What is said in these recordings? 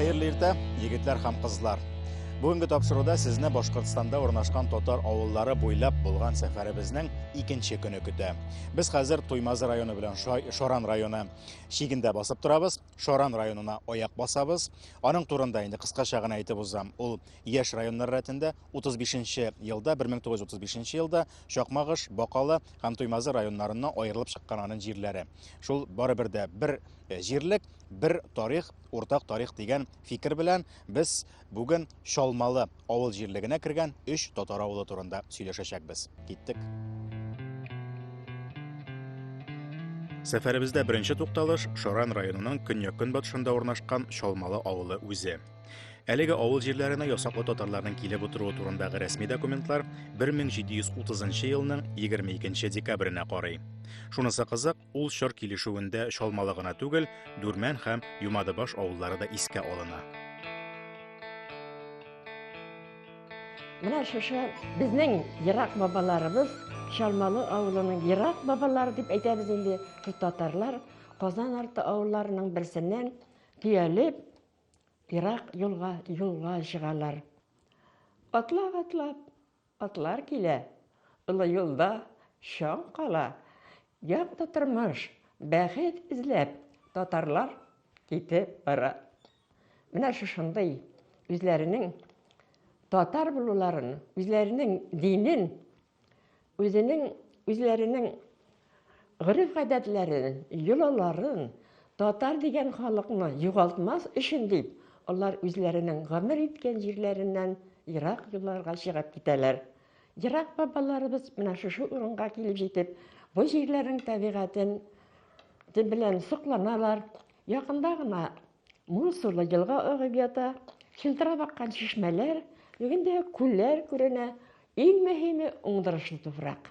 Хәерле иртә, егетләр һәм кызлар. Бүгенге тапшыруда сезне Башкортстанда урнашкан татар авыллары буйлап булган сәфәребезнең икенче көне көтә. Без хәзер Туймазы районы белән Шаран районы шигендә басып торабыз. Шаран районына аяк басабыз. Аның турында инде кыскача гына әйтеп узам. Ул яшь районнар рәтендә 35 елда, 1935 елда Чакмагыш, Бакалы һәм Туймазы районнарыннан аерылып чыккан аның җирләре. Шул барыбер дә бер җирлек, бер тарих, уртак тарих дигән фикер белән без Бүген Чалмалы авыл җирлегенә кергән өч татар авылы турында сөйләшәчәкбез. Киттек. Сәфәребездә беренче тукталыш Шаран районының көньяк-көнбатышында урнашкан Чалмалы авылы үзе. Әлеге авыл җирләренә ясаклы татарларның килеп утыруы турындагы рәсми документлар 1730 елның 22 декабренә карый. Шунысы кызык, Ул чор килешүендә Чалмалы гына түгел, Дүрмән һәм Юмадыбаш авыллары да искә алына. Менә шушы безнең ерак бабаларыбыз, Чалмалы авылының ерак бабалары дип әйтәбез инде, шул татарлар Казан арты авылларының берсеннән төялеп, ерак юлга юлга чыгалар. Атлап-атлап Атлар килә, олы юлда чаң кала, Якты тормыш, бәхет эзләп, татарлар китеп бара. Менә шушындый үзләренең татар булуларын, үзләренең динен, үзенең, үзләренең Гореф-гадәтләрен, йолаларын, татар дигән халыкны югалтмас өчен дип, алар үзләренең гомер иткән җирләреннән ерак юлларга чыгып китәләр. Ерак бабаларыбыз менә шушы урынга килеп җитеп, бу җирләрнең табигатен белән сокланалар. Якында гына мул сулы елга агып ята, чылтырап аккан чишмәләр, бүген дә күлләр күренә. Иң мөһиме, уңдырышлы туфрак.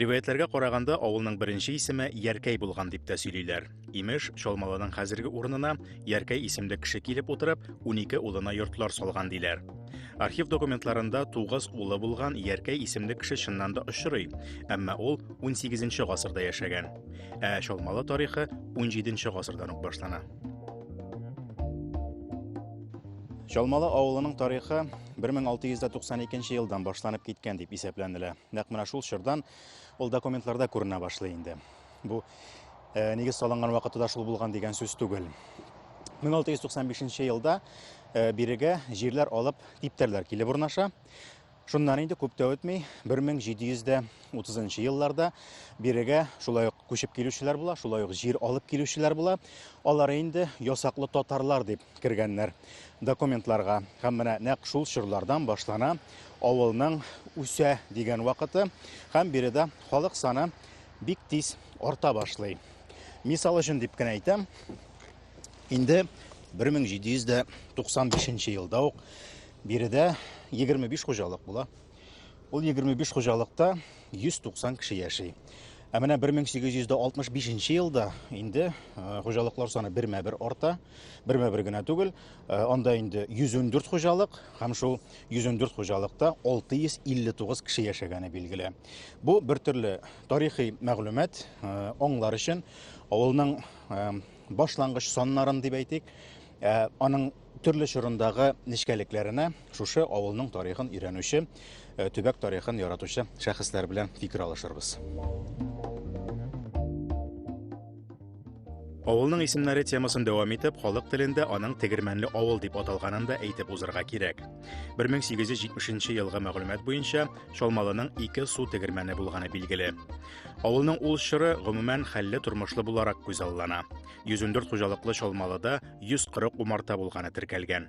Риваятьләргә караганда, авылның беренче исеме Яркәй булган дип тә сөйлиләр. Имеш, Чалмалының хәзерге урынына Яркәй исемле кеше килеп утырып, унике улына йортлар салган диләр. Архив документларында тугыз улы булган Яркәй исемле кеше чыннан да очрый, әмма ул 18 гасырда яшәгән. Ә Чалмалы тарихы 17 гасырдан ук башлана. Чалмалы авылының тарихы 1692 елдан башланып киткән дип исәпләнелә. Нәкъ менә шул чордан ул документларда күренә башлый инде. Бу э, нигез салынган вакыты да шул булган дигән сүз түгел. 1695 елда э, бирегә җирләр алып типтәрләр килеп урнаша. Шуннан инде күп тә үтми, 1730 елларда бирегә шулай ук күчеп килүчеләр була, шулай ук җир алып килүчеләр була. Алар инде ясаклы татарлар дип кергәннәр документларга. Һәм менә нәкъ шул чорлардан башлана Авылның үсә дигән вакыты һәм биредә халык саны бик тиз арта башлый. Мисал өчен дип кенә әйтәм, инде 1795 елда ук биредә 25 хуҗалык була. Ул 25 хуҗалыкта 190 кеше яши. Ә менә 1865 елда инде хуҗалыклар саны бермә-бер арта, бермә-бер генә түгел, Э, анда инде 114 хуҗалык һәм шул 114 хуҗалыкта 659 кеше яшәгәне билгеле. Бу бер төрле тарихи мәгълүмат э, аңлар өчен авылның э, башлангыч саннарын дип әйтик, аның төрле чорындагы нечкәлекләренә Шушы авылның тарихын өйрәнүче, э, төбәк тарихын яратучы шәхесләр белән фикер алышырбыз. Авылның исемнәре темасын дәвам итеп, халык телендә аның Тегермәнле авыл дип аталганын да әйтеп узырга кирәк. 1870 елгы мәгълүмат буенча Чалмалының ике су тегермәне булганы билгеле. Авылның ул чоры гомумән хәлле тормышлы буларак күзаллана. 114 хуҗалыклы Чалмалыда 140 умарта булганы теркәлгән.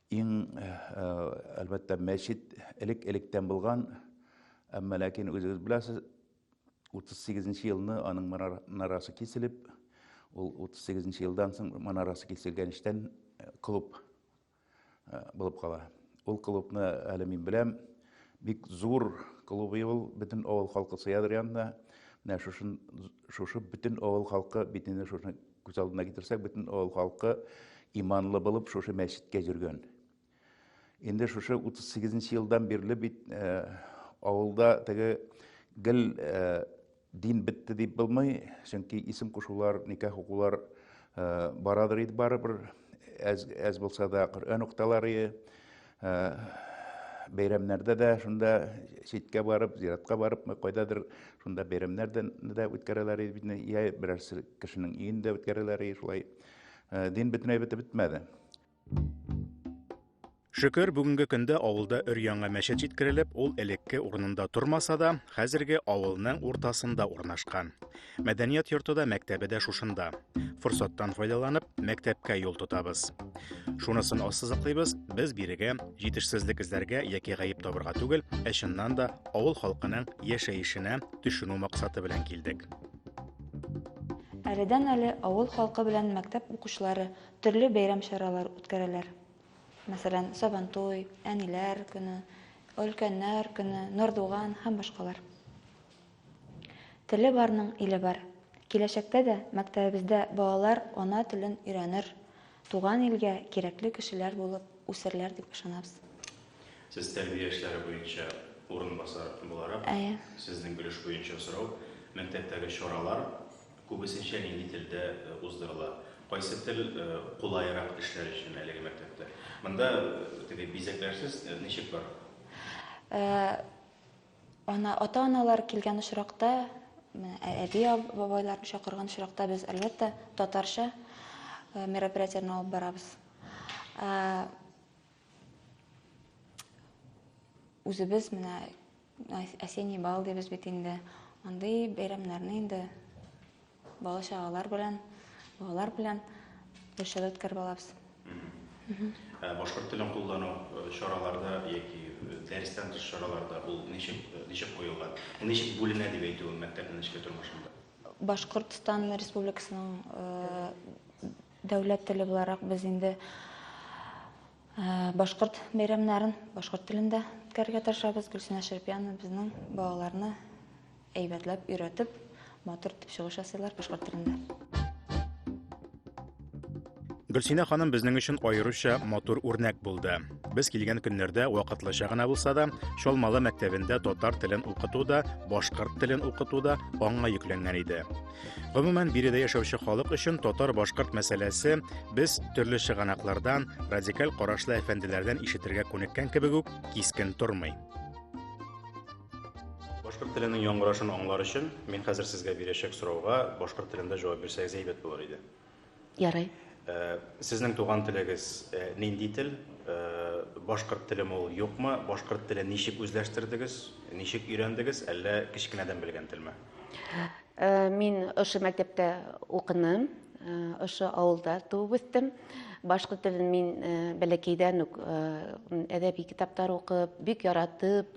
Иң, әлбәттә, мәчет элек-электән булган, әмма ләкин үзегез беләсез, 38 нче елны аның манарасы киселеп, ул 38 нче елдан соң манарасы киселгән эштән клуб булып кала. Ул клубны әле мин беләм, бик зур клуб ул, бөтен авыл халкы сыядыр янына. Менә шушы бөтен авыл халкы бит инде шуны Күз алдына китерсәк, бөтен авыл халкы иманлы булып шушы мәчеткә йөргән. Инде шушы 38 елдан бирле бит э, авылда теге гел э, дин бетте дип булмый, чөнки исем кушулар, никах хукуклар э, барадыр иде барыбер, әз, әз булса да Коръән укталары, Ә, бәйрәмнәрдә дә шунда читкә барып, зиратка барып, кайдадыр шунда бәйрәмнәрдә дә үткәрәләр бит, я берәр кешенең өендә үткәрәләр, шулай ә, дин бөтенләй бетеп бетмәде. Шөкер, бүгенге көндә авылда өр-яңа мәчет җиткерелеп, ул элекке урынында тормаса да, хәзерге авылның уртасында урнашкан. Мәдәният йорты да, мәктәбе дә шушында. Форсаттан файдаланып, мәктәпкә юл тотабыз. Шунысын ассызыклыйбыз, без бирегә җитешсезлек эзләргә яки гаеп табырга түгел, ә чыннан да авыл халкының яшәешенә төшенү максаты белән килдек. Әледән-әле авыл халкы белән мәктәп укучылары төрле бәйрәм чаралар үткәрәләр. Мәсәлән, Сабантуй, Әниләр көне, Өлкәннәр көне, Нордуган һәм башкалар. Теле барның иле бар. Киләчәктә дә мәктәбебездә балалар ана телен өйрәнер, туган илгә кирәкле кешеләр булып үсерләр дип ышанабыз. Сез тәрбия эшләре буенча урынбасар буларак, Әйе. Сезнең өлеш буенча сорау, мәктәптәге чаралар күбесенчә нинди телдә уздырыла? Кайсы тел кулаерак эшләр өчен әлеге мәктәптә? Монда теге бизәкләрсез ничек бара? Ә. Ана, ата-аналар килгән очракта, әби, бабайларны чакырган очракта без әлбәттә татарча э, мероприятияне алып барабыз. Э, үзебез менә осенний бал дибез бит инде. Андый бәйрәмнәрне инде Бала-чагалар белән, балалар белән бешереп кербалабыз. Ә башкорт телен куллану э, чараларда яки э, дәрестән тыш чараларда ул ничек э, ничек куелган? Ул ничек бүленә дип әйтүем мәктәпнең эчке тормышында? Башкортстан Республикасының э, дәүләт теле буларак без инде э, башкорт бәйрәмнәрен башкорт телендә үткәрергә тырышабыз. Гөлсинә Шәрпиянова безнең балаларны Әйбәтләп өйрәтеп, матур итеп чыгыш ясыйлар башкорт телендә. Гөлсинә ханым безнең өчен аеруча матур үрнәк булды. Без килгән көннәрдә вакытлыча гына булса да, Чалмалы мәктәбендә татар телен укыту да, башкорт телен укыту да аңа йөкләнгән иде. Гомумән, биредә яшәүче халык өчен татар-башкорт мәсьәләсе без төрле чыганаклардан, радикаль карашлы әфәнделәрдән ишетергә күнеккән кебек үк кискен тормый. Башкорт теленең яңгырашын аңлар өчен, мин хәзер сезгә бирәчәк сорауга башкорт телендә җавап бирсәгез әйбәт булыр иде. Ярый. Э, сезнең туган телегез э, нинди тел? Э, башкорт теле ул юкмы? Башкорт телен ничек үзләштердегез? Ничек өйрәндегез? Әллә кечкенәдән белгән телме? Э, мин ошо мәктәптә укыным, э, ошо авылда туып үстем. Башкорт телен мин э, бәләкәйдән үк әдәби китаптар укып, бик яратып,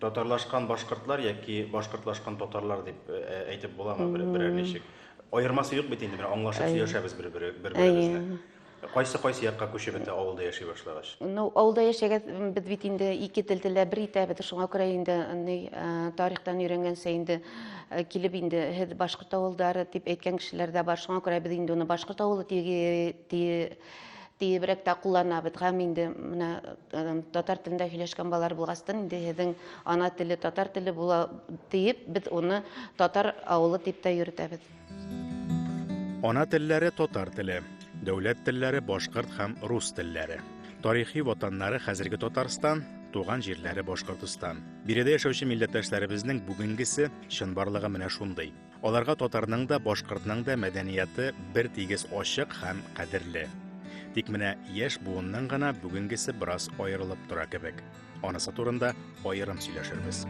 Татарлашкан башкортлар яки башкортлашкан татарлар дип әйтеп буламы берәр ничек? Аермасы юк бит инде, менә аңлашып сөйләшәбез бер-беребезне. Кайсы кайсы якка күчеп бетә авылда яши башлагач? Ну, авылда яшәгәз без бит инде ике тел телләр бер итә бит, шуңа күрә инде ни тарихтан өйрәнгәнчә инде килеп инде һез башкорт авылдары дип әйткән кешеләр дә бар. Шуңа күрә без инде аны башкорт авылы дип Тиебрәк тә кулланабыз. Һәм инде менә татар телендә һөйләшкән балалар булгастын, инде һезнең ана теле татар теле була диеп, без уны татар авылы дип тә йөртәбез. Ана телләре татар теле, дәүләт телләре башкорт һәм рус телләре. Тарихи ватаннары хәзерге Татарстан, туган җирләре Башкортостан. Биредә яшәүче милләттәшләребезнең бүгенгесе, чынбарлыгы менә шундый. Аларга татарның да, башкортның да мәдәнияты бер тигез ачык һәм кадерле. Тик менә яшь буынның гына бүгенгесе бераз аерылып тора кебек. Анысы турында аерым сөйләшербез.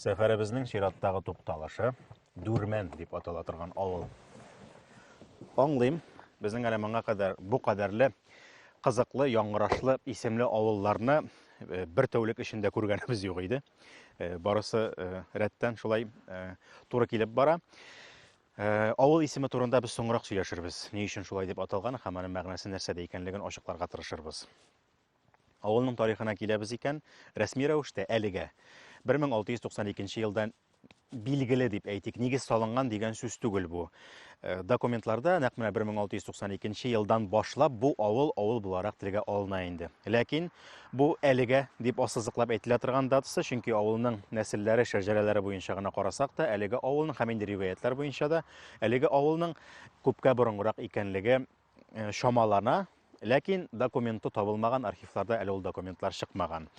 Сәфәребезнең чираттагы тукталышы Дүрмән дип атала торган авыл. Аңлыйм, безнең әле моңа кадәр бу кадәрле кызыклы, яңгырашлы исемле авылларны э, бер тәүлек эчендә күргәнебез юк иде. Э, барысы э, рәттән шулай туры килеп бара. Авыл исеме турында без соңрак сөйләшербез. Ни өчен шулай дип аталган һәм аның мәгънәсе нәрсәдә икәнлеген ачыкларга тырышырбыз. Авылның тарихына киләбез икән, рәсми рәвештә әлегә 1692 елдан билгеле дип әйтик, нигез салынган дигән сүз түгел бу. Э, документларда нәкъ менә 1692 елдан башлап бу авыл авыл буларак телгә алына инде. Ләкин бу әлегә дип ассызыклап әйтелә торган датасы, чөнки авылның нәселләре, шәҗәрәләре буенча гына карасак та, әлеге авылның һәм инде риваятлар буенча да әлеге авылның күпкә борынгырак икәнлеге э, чамалана, ләкин документы табылмаган архивларда әле ул документлар чыкмаган.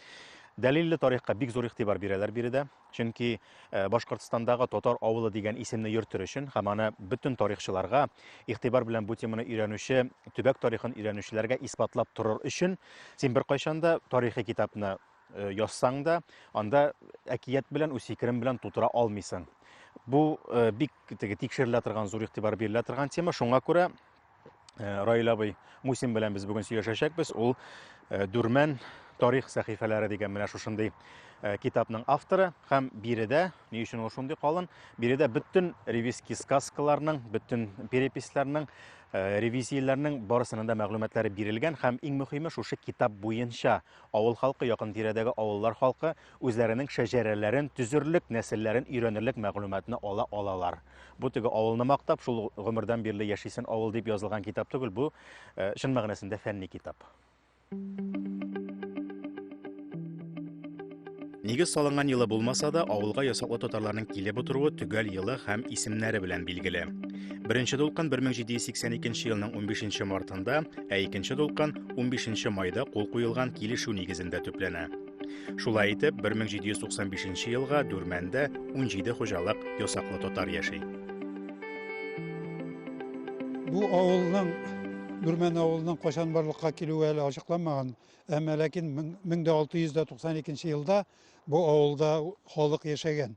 Дәлилле тарихка бик зур игътибар бирәләр биредә, чөнки э, Башкортстандагы татар авылы дигән исемне йөртер өчен һәм аны бөтен тарихчыларга, игътибар белән бу теманы өйрәнүче, төбәк тарихын өйрәнүчеләргә исбатлап торыр өчен син беркайчан да тарихи китапны э, язсаң да, анда әкият белән үз фикерем белән тутыра алмыйсың. Бу э, бик теге тикшерелә торган, зур игътибар бирелә торган тема. Шуңа күрә э, Раил абый Мусин белән без бүген сөйләшәчәкбез. Ул Дүрмән тарих сәхифәләре дигән менә шушындый китапның авторы һәм биредә, ни өчен ул шундый калын, биредә бөтен ревизский сказкаларның, бөтен переписләрнең Э, ревизияләрнең барысының да мәгълүматлары бирелгән һәм иң мөһиме шушы китап буенча Авыл халкы, якын-тирәдәге авыллар халкы үзләренең шәҗәрәләрен төзерлек, нәселләрен өйрәнерлек мәгълүматны ала алалар. Бу теге авылны мактап, шул гомердән бирле яшисен авыл дип язылган китап түгел, бу э, чын мәгънәсендә фәнни китап. Нигез салынган елы булмаса да, авылга ясаклы татарларның килеп утыруы төгәл елы һәм исемнәре белән билгеле. Беренче дулкын 1782 елның 15 мартында, ә икенче дулкын 15 майда кул куелган килешү нигезендә төпләнә. Шулай итеп, 1795 елга Дүрмәндә 17 хуҗалык ясаклы татар яши. Бу авылның Дүрмән авылының кайчан барлыкка килүе әле ачыкланмаган. Әмма ләкин 1692 елда бу авылда халык яшәгән.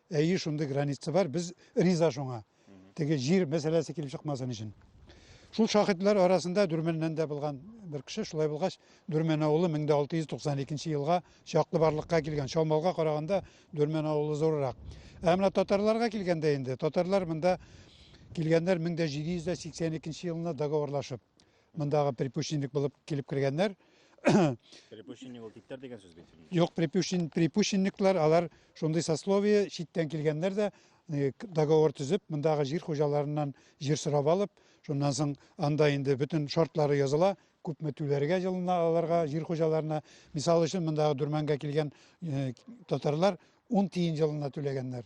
Әйе, шундый граница бар, без риза шуңа. Теге җир мәсьәләсе килеп чыкмасын өчен. Шул шахитлар арасында Дүрмәннән дә булган бер кеше, шулай булгач, Дүрмән авылы 1692 елга чаклы барлыкка килгән. Чалмалга караганда Дүрмән авылы зуррак. Ә менә татарларга килгәндә инде, татарлар монда килгәннәр 1782 елны договорлашып. Мондагы припущенник булып килеп кергәннәр. Припущенник ул типтәр дигән сүз бит. Юк, припущен, припущенниклар, алар шундый сословие, читтән килгәннәр дә э, к- договор төзеп, мондагы җир хуҗаларыннан җир сорап алып, шуннан соң анда инде бөтен шартлары языла, күпме түләргә җылына аларга, җир хуҗаларына. Мисал өчен, мондагы Дүрмәнгә килгән э, татарлар 10 тиен җылына түләгәннәр.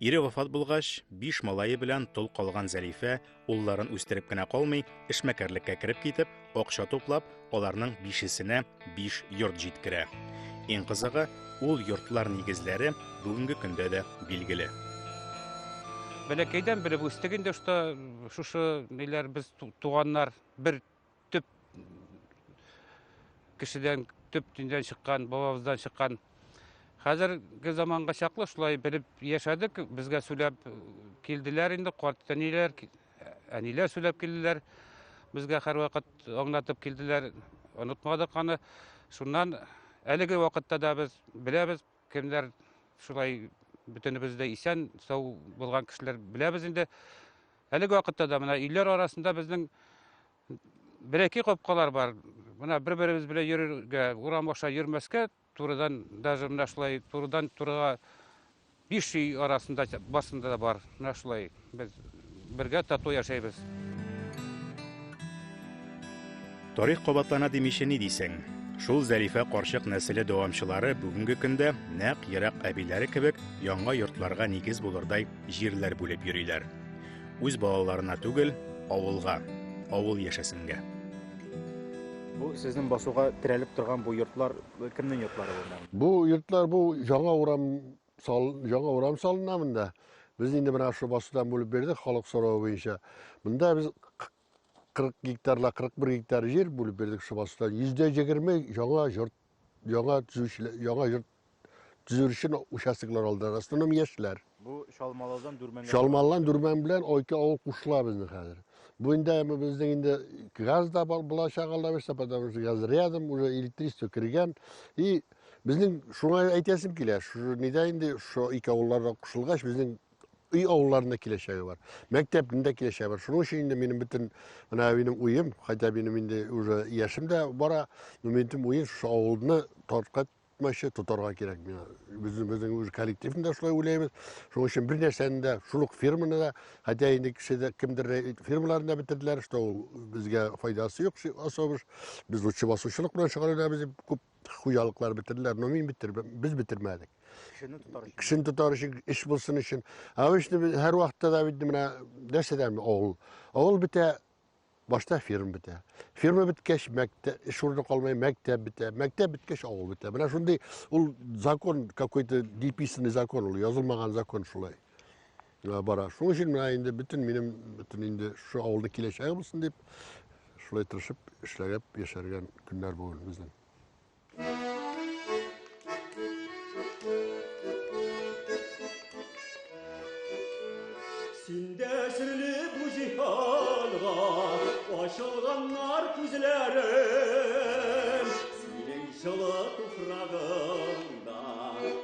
Ире вафат булгач, биш малае белән тол калган Зәлифә улларын үстереп кенә калмый, эшмәкәрлеккә кереп китеп, акча туплап, аларның бишесенә биш йорт җиткерә. Иң кызыгы, ул йортлар нигезләре бүгенге көндә дә билгеле. Бәләкәйдән белеп үстек инде, что шушы ниләр без туганнар бер төп кешедән төп төндән чыккан бабабыздан чыккан хәзерге заманга чаклы шулай белеп яшәдек безгә сөйләп килделәр инде карт әниләр әниләр сөйләп килделәр безгә һәрвакыт аңлатып килделәр онытмадык аны шуннан әлеге вакытта да без беләбез кемнәр шулай бөтенебез дә исән сау булган кешеләр беләбез инде Әлеге вакытта да менә өйләр арасында безнең берәки капкалар бар. Менә бер-беребез белән йөрергә, урам аша йөрмәскә, турыдан даже менә шулай турыдан турыга биш өй арасында басында да бар. Менә шулай без бергә тату яшәйбез. Тарих кабатлана димичә ни дисең? Шул Зәлифә карчык нәселе дәвамчылары бүгенге көндә нәкъ ерак әбиләре кебек яңа йортларга нигез булырдай Җирләр бүлеп йөриләр. Үз балаларына түгел, авылга, авыл яшәсенгә. Бу сезнең басуга терәлеп торган бу йортлар кемнең йортлары булган? Бу йортлар бу яңа урам сал, яңа урам салына монда. Без инде менә шул басудан бүлеп бирдек халык соравы буенча. Монда без 40 гектарла 41 гектар җир бүлеп бирдек шул басудан. 120 яңа йорт Яңа төзүчеләр, яңа йорт төзер өчен участоклар алдылар. Основном яшьләр. Бу Чалмалыдан Дүрмәнгә. Чалмалыдан Дүрмән белән Ойты авыл кушыла безнең хәзер. Бу инде безнең инде газ да булачак алда берсе, потому что газ рядом, уже электричество кергән. И безнең шуңа әйтәсем килә, шу нидә инде шо ике авылларга кушылгач, безнең өй авылларында киләчәге бар. Мәктәпнең киләчәге бар. Шуның өчен инде минем бөтен менә минем уем, хотя минем инде уже яшем дә бара, но минем уем шушы авылны тарткат тотмачы тотарга кирәк миңа. Без безнең үз коллективны да шулай уйлыйбыз. Шуның өчен бер нәрсәне дә, шул ук фирманы да, хотя инде кешедә кемдер фирмаларын да бетерделәр, что ул безгә файдасы юк, особыш. Без лучше басучылык белән шөгыльләнәбез дип күп хуҗалыклар бетерделәр, но мин бетер, без бетермәдек. Кешене тотар өчен. Кешене тотар өчен, эш булсын өчен. Обычно без һәр вакытта да бит менә нәрсәдән авыл. Авыл бетә, башта ферма бетә. Ферма беткәч, мәктәп, эш урыны калмай, мәктәп бетә. Мәктәп беткәч, авыл бетә. Менә шундый ул закон, какой-то диписанный закон ул, язылмаган закон шулай. бара. Шуның өчен менә инде бөтен минем бөтен инде шушы авылның киләчәге булсын дип, шулай тырышып эшләгәп яшәргән көннәр бүген безнең. Синдә серле бу җиһанга ачылганнар күзләрем, синең җылы туфрагың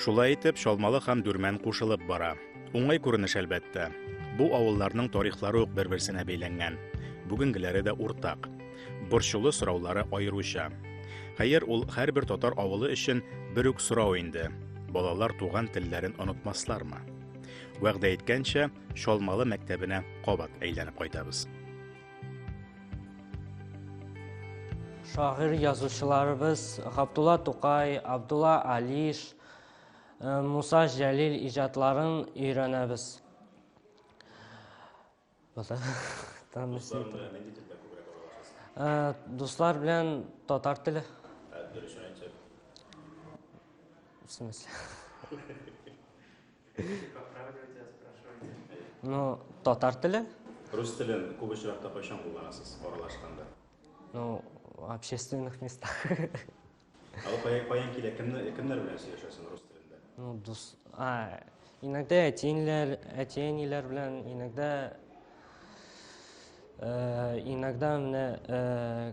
Шулай итеп, Чалмалы һәм Дүрмән кушылып бара. Уңай күренеш әлбәттә. Бу авылларның тарихлары ук бер-берсенә бәйләнгән. Бүгенгеләре дә уртак. Борчулы сораулары аеруча. Хәер, ул һәрбер татар авылы өчен бер үк сорау инде. Балалар туган телләрен онытмаслармы? Вәгъдә иткәнчә, Чалмалы мәктәбенә кабат әйләнеп кайтабыз. Шагыйрь язучыларыбыз Габдулла Тукай, Абдулла Алиш, э, Муса Җәлил иҗатларын өйрәнәбез. Э, дуслар белән татар теле. Э, дөрес В смысле? Ну, татар теле. Рус телен күп очракта кайчан кулланасыз аралашканда? Ну, общественных местах. Ә ул кая каян килә? Кемнәр кемнәр белән сөйләшәсең рус телендә? Ну, дус... А, иногда әтиенләр, әтиәниләр белән, иногда... Э, иногда менә э,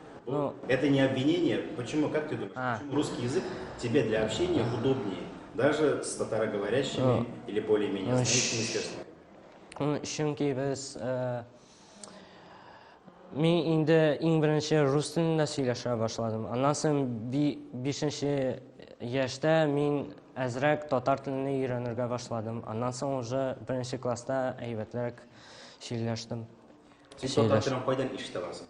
Ну, это не обвинение. Почему, как ты думаешь, а. почему русский язык тебе для общения удобнее, даже с татароговорящими ну, или более-менее ну, знающими ну, Чөнки без э, мин инде иң беренче рус телендә сөйләшә башладым. Аннан соң бишенче яшьтә мин әзрәк татар телен өйрәнергә башладым. Аннан соң уже беренче класста әйбәтләр сөйләштем. Син татар телен кайдан ишетә барсың?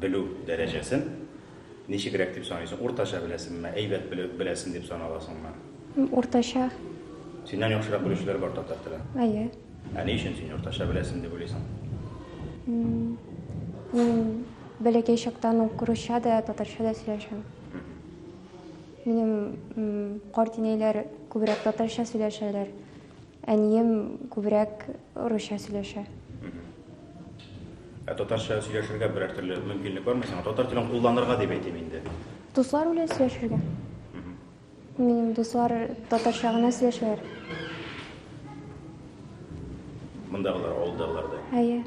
белү дәрәҗәсен ничегрәк дип саныйсың? Уртача беләсеңме, әйбәт белү беләсең дип саналасыңмы? Уртача. Синнән яхшырак белүчеләр бар татар телен? Әйе. Ә ни өчен син уртача беләсең дип уйлыйсың? Мин бәләкәй чактан ук русча да, татарча да сөйләшәм. Минем карт инәйләр күбрәк татарча сөйләшәләр. Әнием күбрәк русча сөйләшә. Ә татарча сөйләшергә берәр төрле мөмкинлек бармы сиңа? Татар телен кулланырга дип әйтим инде. Дуслар белән сөйләшергә. Минем дуслар татарча гына сөйләшәләр. Мондагылар, авылдагылар да. Әйе.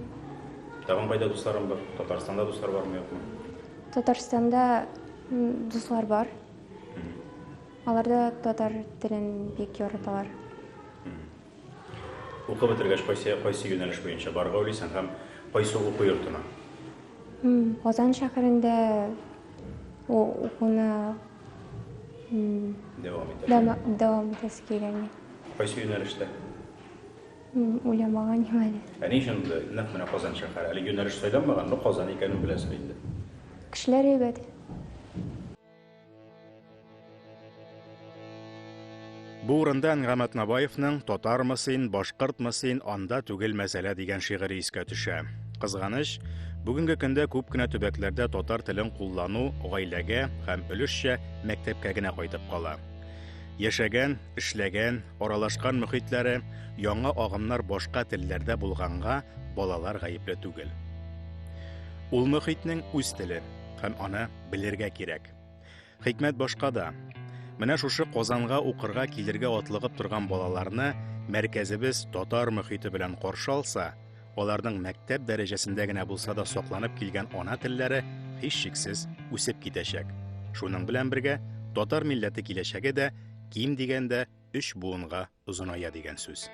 Тагын кайда дусларың бар? Татарстанда дуслар бармы, юкмы? Татарстанда дуслар бар. Алар да татар телен бик яраталар. Укып бетергәч, кайсы кайсы юнәлеш буенча барырга уйлыйсың һәм кайсы уку йортына? Казан шәһәрендә укуны дәвам итәсең. Дәвам итәсе килгән. Кайсы юнәлештә? Уйламаган юк әле. Ә ни өчен нәкъ менә Казан шәһәре? Әле юнәлеш сайламаган, но Казан икәнен беләсең инде. Кешеләр әйбәт. Бу урында Әнгамәт Набаевның Татармы син, башкортмы син, анда түгел мәсьәлә дигән шигыре искә төшә. Кызганыч, бүгенге көндә күп кенә төбәкләрдә татар телен куллану гаиләгә һәм өлешчә мәктәпкә генә кайтып кала. Яшәгән, эшләгән, аралашкан мөхитләре, яңа агымнар башка телләрдә булганга, балалар гаепле түгел. Ул мөхитнең үз теле һәм аны белергә кирәк. Хикмәт башка да. Менә шушы Казанга укырга килергә атлыгып торган балаларны мәркәзебез татар мөхите белән каршы алса, аларның мәктәп дәрәҗәсендә генә булса да сакланып килгән ана телләре һичшиксез үсеп китәчәк. Шуның белән бергә татар милләте киләчәге дә ким дигәндә өч буынга озыная дигән сүз.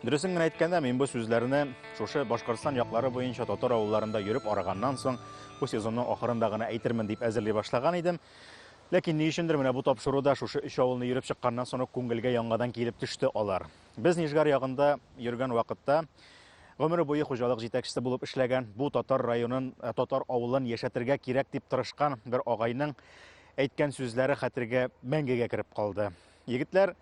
Дөресен генә әйткәндә, мин бу сүзләрне шушы Башкортстан яклары буенча татар авылларында йөреп арыганнан соң, бу сезонның ахырында гына әйтермен дип әзерли башлаган идем. Ләкин ни өчендер менә бу тапшыруда шушы өч авылны йөреп чыкканнан соң күңелгә яңадан килеп төште алар. Без Нижгар ягында йөргән вакытта гомере буе хуҗалык җитәкчесе булып эшләгән, бу татар районын, э, татар авылын яшәтергә кирәк дип тырышкан бер агайның әйткән сүзләре хәтергә мәңгегә кереп калды. Егетләр,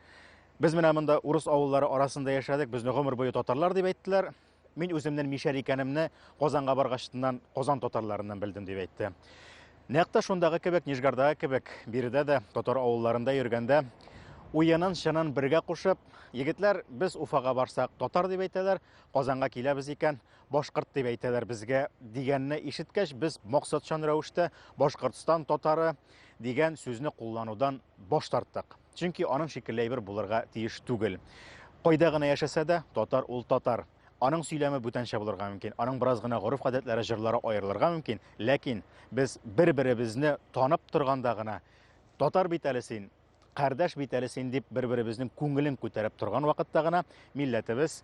без менә монда урыс авыллары арасында яшәдек, безне гомер буе татарлар дип әйттеләр, Мин үземнен мишәр икәнемне Казанга баргачтыннан Казан татарларыннан белдем, дип әйтте. Нәкъ тә шундагы кебек, Нижгардагы кебек, биредә дә татар авылларында йөргәндә уенын, чынын бергә кушып, егетләр без Уфага барсак татар дип әйтәләр, Казанга киләбез икән, башкорт дип әйтәләр безгә дигәнне ишеткәч, без максатчан рәвештә Башкортстан татары дигән сүзне кулланудан баш тарттык. Чөнки аның шикелле әйбер булырга тиеш түгел. Кайда гына яшәсә дә, татар ул татар. Аның сөйләме бүтәнчә булырга мөмкин, аның бераз гына гореф-гадәтләре, җырлары аерылырга мөмкин, ләкин без бер-беребезне танып торганда гына, татар бит әле син, кардәш бит әле син дип бер-беребезнең күңелен күтәреп торган вакытта гына милләтебез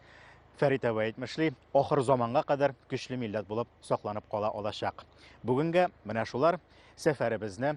Фәрит әбай әйтмешли, ахыр заманга кадәр көчле милләт булып сакланып кала алачак. Бүгенгә менә шулар сәфәребезне